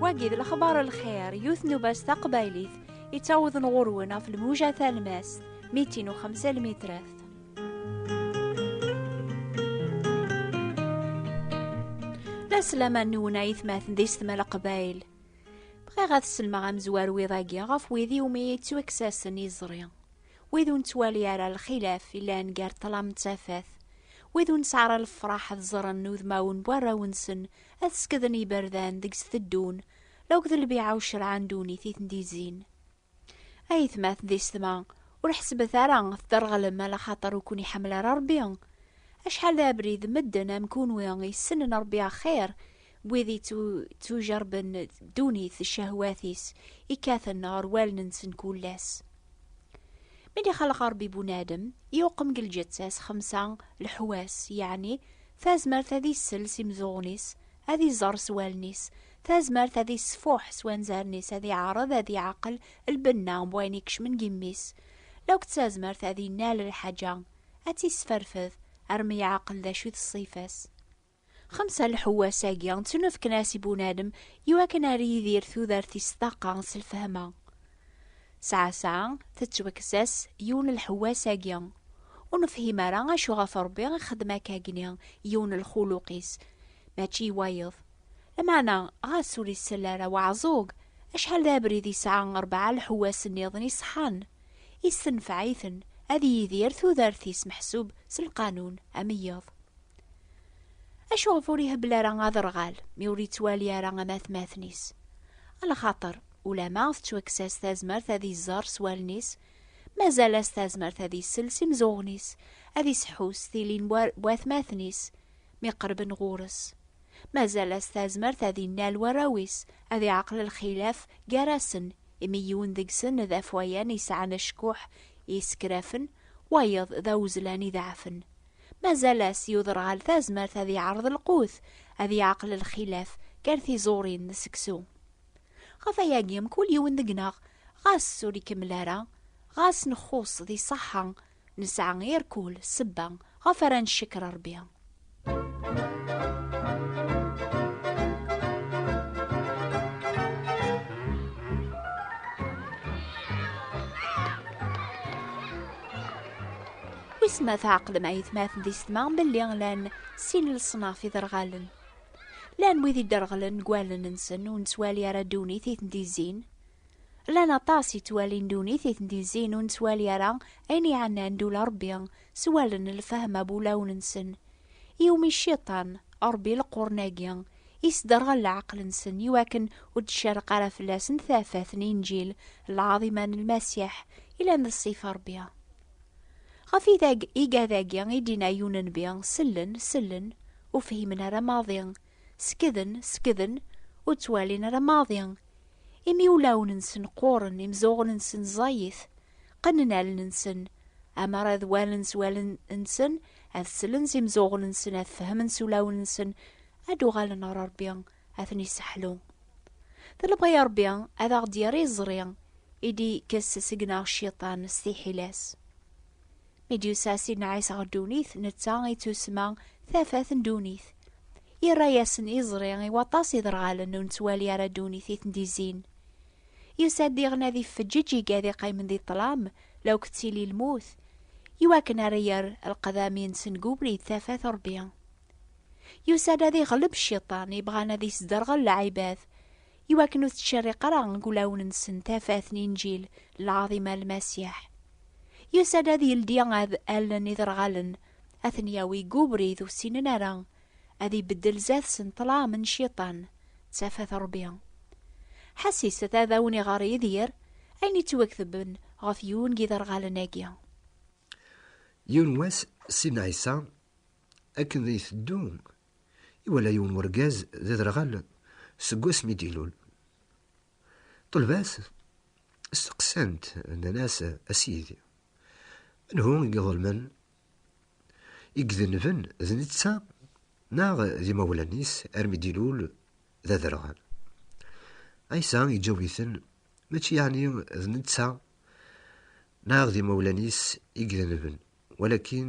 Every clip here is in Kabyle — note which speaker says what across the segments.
Speaker 1: wagi d lexbar lxir yut nubas taqbaylit yettawḍen ɣurwen ɣef lmuja talmast mitin u xemsa lmitrat la slaman nwen aytmaten di setma leqbayl Bɣiɣ ad sellmeɣ amezwaru iḍ-agi ɣef wid iwumi yettwakkes-asen iẓri. Wid ur nettwali ara lxilaf yellan gar ṭṭlam d tafat. Wid ur nesɛi ara lefraḥ ad ẓren udmawen n warraw-nsen ad skeden iberdan deg-s teddun, la akked lbiɛa ucerɛan ddunit i ten-d-izzin. Ayetmat d isetma, ur ḥesbet ara tderɣlem ala xaṭer ur kun-iḥemmel ara Ṛebbi. Acḥal d abrid medden am kunwi yessnen Ṛebbi axir n wid yeţţujerrben ddunit d cehwat-is ikkaten ɣer wallen-nsen kul ass. Mi d-ixelleq Ṛebbi bunadem, yuqem deg lǧeţţa-s xemsa leḥwas, yeɛni tazmert ad issel s imeẓẓuɣen-is, ad iẓer s wallen-is, Tazmert ad isfuḥ s wanzaren-is, ad iɛreḍ ad iɛaqel lbenna n wayen ikecmen deg imi-s. Lauked tazmert ad innal lḥaǧa, ad tt-isferfed, armi iɛaqel d acu i d ṣṣifa-s. Xemsa lḥewwas-agi ttnufken-as i bunadem iwakken ar yidir tudert-is ṭaqa s lfehma. Sɛasɛa, tettwakkes-as yiwen n lḥewwas-agi. Ur nefhim ara acu ɣef Rebbi i xeddem akka agni yiwen n lxuluq-is, mačči i wayeḍ. Lameɛna, ɣas ur isell ara waɛẓug, acḥal d abrid yesɛa rebɛa lḥewwas nniḍen iṣeḥḥan, issenfeɛ-iten ad yidir tudert-is meḥsub s lqanun ameyyeḍ. Acuɣef ur ihebbel ara aderɣal mi ur yettwali ara amatmaten-is? A lxaṭer, ulamma tettwakkes-as tazmert ad iẓer s wallen-is, mazal-as tazmert ad isell s imezɣuɣen-is, ad iseḥḥu s tilin n watmaten-is mi qerben ɣur-s. Mazal-as tazmert ad innal warraw-is, ad iɛqel lxilaf gar-asen, imi yiwen deg-sen d afwayan yesɛan acekkuḥ yessekrafen, wayeḍ d awezlan ideɛfen. Mazal-as i uderɣal tazmert ad iɛreḍ lqut, ad iɛqel lxilaf gar tiẓurin d seksu. Ɣef wayagi, mkul yiwen deg-neɣ, ɣas ur ikemmel ara, ɣas nxuṣṣ di ṣṣeḥḥa, Nesɛa irkul, sebba, ɣef ara ncekker Rebbi. Wis ma tɛeqlem ayetmaten di setma belli lan sin leṣnaf iderɣalen. Lan wid iderɣlen deg wallen-nsen ur nettwali ara ddunit i ten-d-izzin. Llan aṭas yettwalin ddunit i ten-d-yezzin ur nettwali ara ayen iɛennan d ula Ṛebbi, s wallen n lfehma bu ulawen-nsen. Iwumi Cciṭan, Ṛebbi leqrun-agi, isderɣel leɛqel-nsen i wakken ur d-tcerreq ara fell-asen tafat n Inǧil lɛaḍima n Lmasiḥ yellan d ṣṣifa Ṛebbi. Ɣef idag igad-agi i d-inna Yunenbi, sellen, sellen, ur fhimen ara maḍi, Sekden, sekden, ur ttwalin ara maḍi. Imi ulawen-nsen qquren, imzuɣen-nsen ẓẓayit. Qqnen allen-nsen. Amer ad walen s wallen-nsen, ad slen s imzuɣen-nsen, ad fehmen s ulawen-nsen, ad d-uɣalen ɣer Rebbi, ad ten-iseḥlu. D lebɣi Rebbi ad aɣ-d-yerr iẓri i d-ikkes seg-neɣ Cciṭan s tiḥila-s. Mi d-yusa Sidna Ɛisa ɣer ddunit, netta i tussma tafat n ddunit. Yerra-yasen iẓri i waṭas iderɣalen ur nettwali ara ddunit i ten-d-izzin. Yusa-d diɣen ad iffeǧǧeǧ iga ad iqqimen di ṭṭlam la ur k-ttili lmut, i wakken ara yerr lqedam-insen deg ubrid tafat Rebbi. Yusa-d ad iɣleb cciṭan ibɣan ad isderɣel lɛibad, i wakken ur tettcerriq ara deg wulawen-nsen tafat n Inǧil lɛaḍima n Lmasiḥ. Yusa-d ad yeldi ad allen iderɣalen, ad ten-yawi deg ubrid ur ssinen ara, ad ibeddel zdat-sen ṭṭlam n Cciṭan d tafat n Ṛebbi. Ḥesset ad awen-iɣer Yidir ayen yettwaketben ɣef yiwen n yiderɣalen-agi.
Speaker 2: Yiwen wass, Ssid Ɛisa, akken iteddu Iwala yiwen wergaz d aderɣal seg wasmi i d-ilul. Ṭṭelba-t, steqsan-t, nnan-as, A Sidi, anhu i iḍelmen? I idenben d netta neɣ d imawlan-is armi d-ilul d aderɣal? Ɛisa iǧaw-iten, Mačči yeɛni d netta neɣ d imawlan-is i idenben, walakin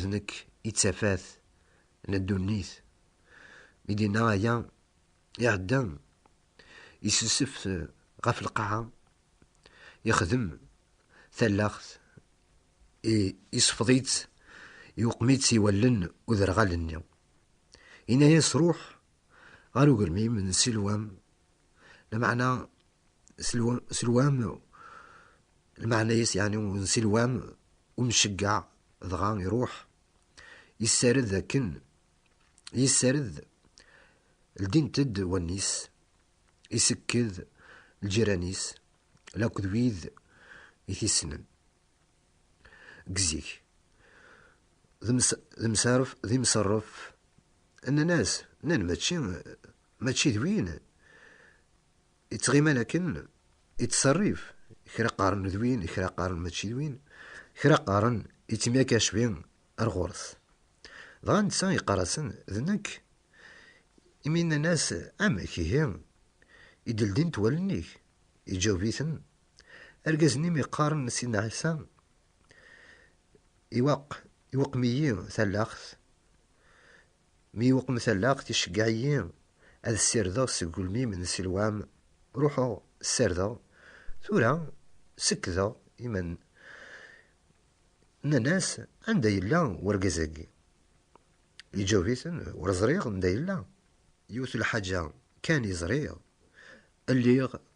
Speaker 2: D nekk i d tafat n ddunit. Mi d-yenna aya, iɛedda, yessusef ɣef lqaɛa, yexdem tallaɣt, yesfeḍ-itt, yuqem-itt i wallen uderɣal-nni. Yenna-as, Ruḥ ɣer ugelmim n Silwam, lmeɛna Silwam, lmeɛna-yas yeɛni n Silwam, umceggeɛ, dɣa iruḥ, yessared akken, yessared, ldint-d wallen-is, isekked lǧiran-is, lakk d wid i t-issnen. Gzik. D msarf, d imserref. Nnan-as, nnan mačči, mačči d win ittɣiman akken ittserrif. Kra qqaren d win, kra qqaren mačči d win, kra qqaren ittemyakacbi ar ɣur-s. Dɣa netta yeqqar-asen, d nekk. Imi nnan-as, amek ihi i d-ldint wallen-ik? Iǧaweb-iten, Argaz-nni mi qqaren Sidna Ɛisa, iwaq, iweqem-iyi talaɣt, mi iweqem talaɣt iceggeɛ-iyi ad ssirdeɣ seg ugelmim n Silwam, ruḥeɣ ssardeɣ, tura sekkdeɣ iman. Nnan-as, Anda yella wergaz-agi? Yeǧaweb-iten, Ur ẓriɣ anda yella. Yiwet lḥaǧa kan i ẓriɣ, lliɣ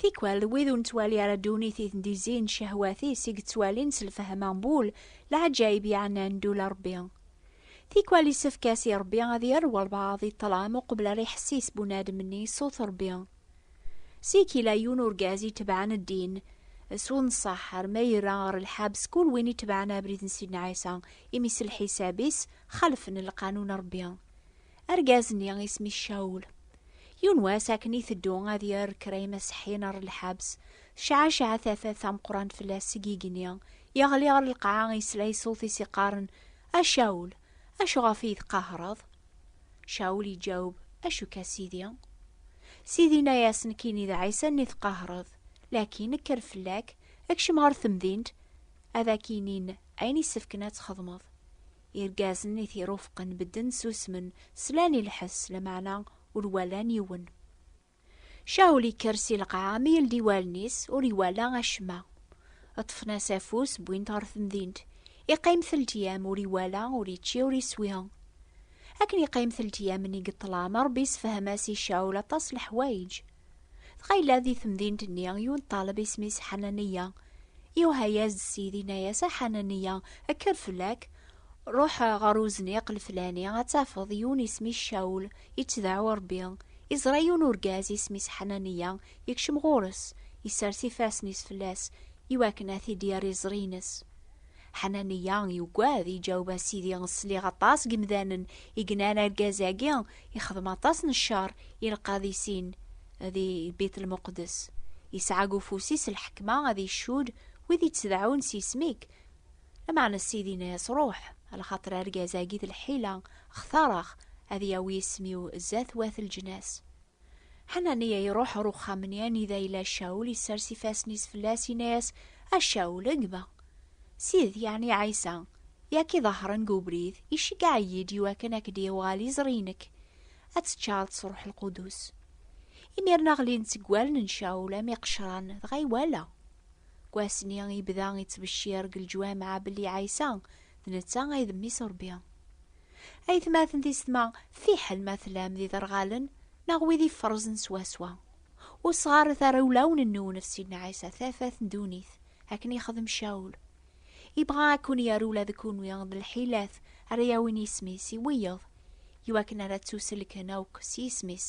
Speaker 1: Tikwal d wid ur nettwali ara ddunit i ten-d-izzin cehwat-is i yettwalin s lfehm ambul, leɛǧayeb yeɛnan ddula Rebbi. Tikwal yessefk-as i Rebbi ad yerr walbaɛḍ i ṭṭlam uqbel ara iḥessis bunadem-nni ṣṣut Rebbi. Seg yella yiwen urgaz itebɛen ddin s unṣaḥ arma yerra ɣer lḥabs kul win itebɛen abrid n Sidna Ɛisa, imi s lḥisab-is xalfen lqanun n Rebbi. Argaz-nni isem-is Cawul. Yiwen wass akken iteddu ad yerr kra imaseḥḥiyen ɣer lḥabs, tecɛaceɛ tafat tameqqrant fell-as seg yigenni, yeɣli ɣer lqaɛa yesla i ṣṣut-is iqqaren, A Cawul! Acu ɣef i yi-tqahareḍ? Caul iǧaweb, Acu ka sidi? Sidi inna-yas, Nekkini d Ɛisa nni tqahreḍ, lakin kker fell-ak, ekcem ɣer temdint, ad ak-inin ayen isefken ad txedmeḍ. Irgazen i t-irufqen bedden susmen, slan i lḥess, lameɛna ur walan yiwen. Caul ikker si lqaɛa mi yeldi wallen-is, ur iwala acemma. Ṭṭfen-as afus, wwin-t ɣer temdint. Iqqim teltyam, ur iwala, ur ičči, ur iswi. Akken iqqim teltyam-nni deg ṭṭlam, Ṛebbi issefhem-as i Caul aṭas n leḥwayeǧ. Dɣa yella di temdint-nni yiwen n ṭṭaleb isem-is Ḥananiya. Iwehha-yas-d Ssid, inna-yas, A Ḥananiya, kker fell-ak! Ruḥ ɣer uzniq leflani, ad tafeḍ yiwen isem-is Cawul, ittdeɛɛu Ṛebbi. Iẓra yiwen urgaz isem-is Ḥananiya, ikcem ɣur-s, isers ifassen-is fell-as, iwakken ad t-id-yerr iẓri-ines. Ḥananiya yugad, iǧaweb, A Sidi, sliɣ aṭas n yemdanen i yennan argaz-agi ixdem aṭas n ccer i lqadisin di Bit Lmuqeddes. Yesɛa deg ufus-is lḥekma ad icudd wid ittdeɛɛun s yisem-ik. Lameɛna Ssid inna-yas, Ruḥ, lxaṭer argaz-agi d lḥila, xtareɣ ad yawi isem-iw zdat wat leǧnas. Ḥananiya iruḥ ɣer uxxam-nni anida yella Cawul, isers ifassen-is fell-as, inna-yas, A Cawul, gma! Ssid, yeɛni Ɛisa, i ak-iḍehṛen deg ubrid, iceggeɛ-iyi-d iwakken ad k-d-yuɣal iẓri-inek, ad teččareḍ s Ṛuḥ Lqudus. Imir-nna ɣlin-d seg wallen n Cawul am iqecran, dɣa iwala. Deg wass-nni, yebda ittbeccir deg leǧwameɛ belli Ɛisa d netta ay d Mmi-s n Rebbi. Aytmaten tisetma, fiḥel ma tlam d iderɣalen neɣ wid iferrzen swaswa, ur sɣaret ara ulawen-nwen ɣef Sidna Ɛisa, tafat n ddunit, akken yexdem Cawul. Yebɣa ad ken-yerr ula d kenwi d lḥilat ara yawin isem-is i wiyeḍ, iwakken ara ttuselken akk s yisem-is.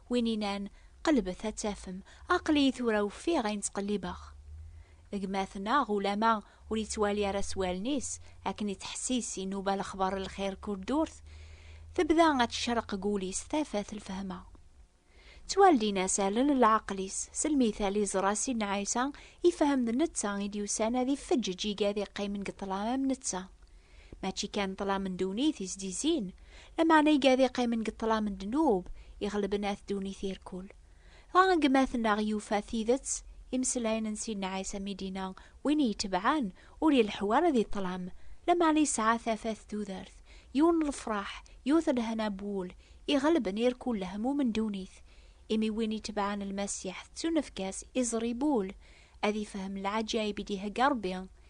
Speaker 1: Win inan, qelbet ad tafem, aql-iyi tura ufiɣ ayen ttqellibeɣ. Gma-t neɣ ulama ur yettwali ara s wallen-is, akken ittḥessis, inuba lexbar n lxir kur ddurt, tebda ad tecreq gul-is tafat lfehma. Ttwaldin-as allen n leɛqel-is, s lmithal iẓra Sidna Ɛisa, ifhem d netta i d-yusan ad ifeǧǧeǧ iga ad iqqimen deg ṭṭlam am netta. Mačči kan ṭṭlam n ddunit i s-d-izzin, lameɛna i gad iqqimen deg ṭṭlam n ddnub iɣelben at ddunit irkul. Dɣa gma-tneɣ yufa tidet, imeslayen n Sidna Ɛisa mi d-yenna win i itebɛen ur ileḥḥu ara di ṭṭlam, lameɛna yesɛa tafat tudert, yiwen n lefraḥ, yiwet n lehna n wul, iɣelben irkul lehmum n ddunit. Imi win itebɛen Lmasiḥ tettunefk-as iẓri n wul, ad ifhem lɛaǧayeb i d-ihegga Rebbi.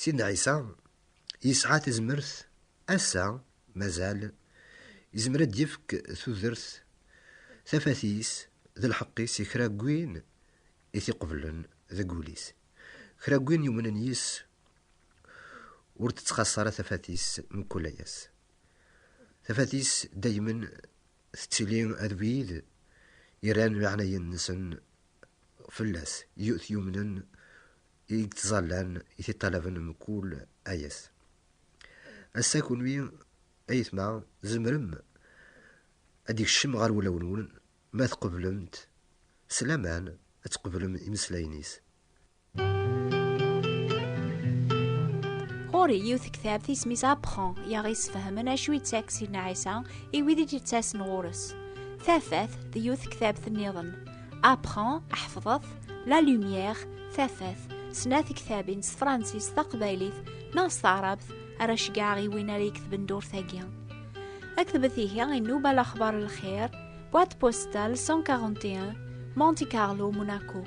Speaker 2: Sidna Ɛisa yesɛa tazmert ass-a mazal yezmer ad d-yefk tudert tafat-is d lḥeqq-is i kra n win i t-iqeblen deg wul-is. Kra n win yumnen yis-s ur d-tettxaṣṣa ara tafat-is mkul ass. Tafat-is daymen tettili d wid irran leɛnaya-nsen fell-as, t-yumnen i yettẓallan i t-iṭalaben mkul ayes. Ass-a kunwi, ayetma, zemrem ad d-ikcem ɣer wulawen-nwen ma tqeblemt s laman ad tqeblem imeslayen-is.
Speaker 1: Ɣur-i yiwet tektabt isem-is Apprend i aɣ-yesfehmen acu yettak Sidna Ɛisa i wid i d-yettasen ɣur-s. Tafat d yiwet tektabt-nniḍen. apprend ḥefḍet la lumière tafat sna tektabin s tefransist taqbaylit neɣ s taɛrabt ara ceggɛeɣ i win ara yeketben ddurt-agi aktbet ihi inuba lexbar lxir boîte postale 141 Monte Carlo Monaco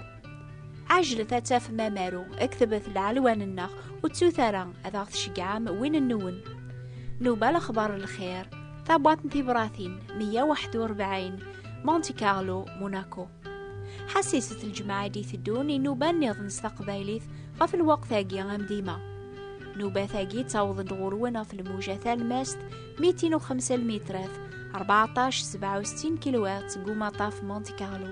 Speaker 1: ɛejlet ad tafem amaru aktbet lɛelwan-nneɣ ur ttut ara ad aɣ-tceggɛem win-nwen nuba lexbar lxir Tabwat n tibratin 141 Monte Carlo, Monaco. Ḥassiset lǧemɛa i d-iteddun inuba nniḍen s taqbaylit ɣef lweqt-agi am dima. Nubat-agi ttawḍen-d ɣur-wen ɣef lmuja talmast 205 metrat 1467 kilowat seg umaṭaf Monte Carlo.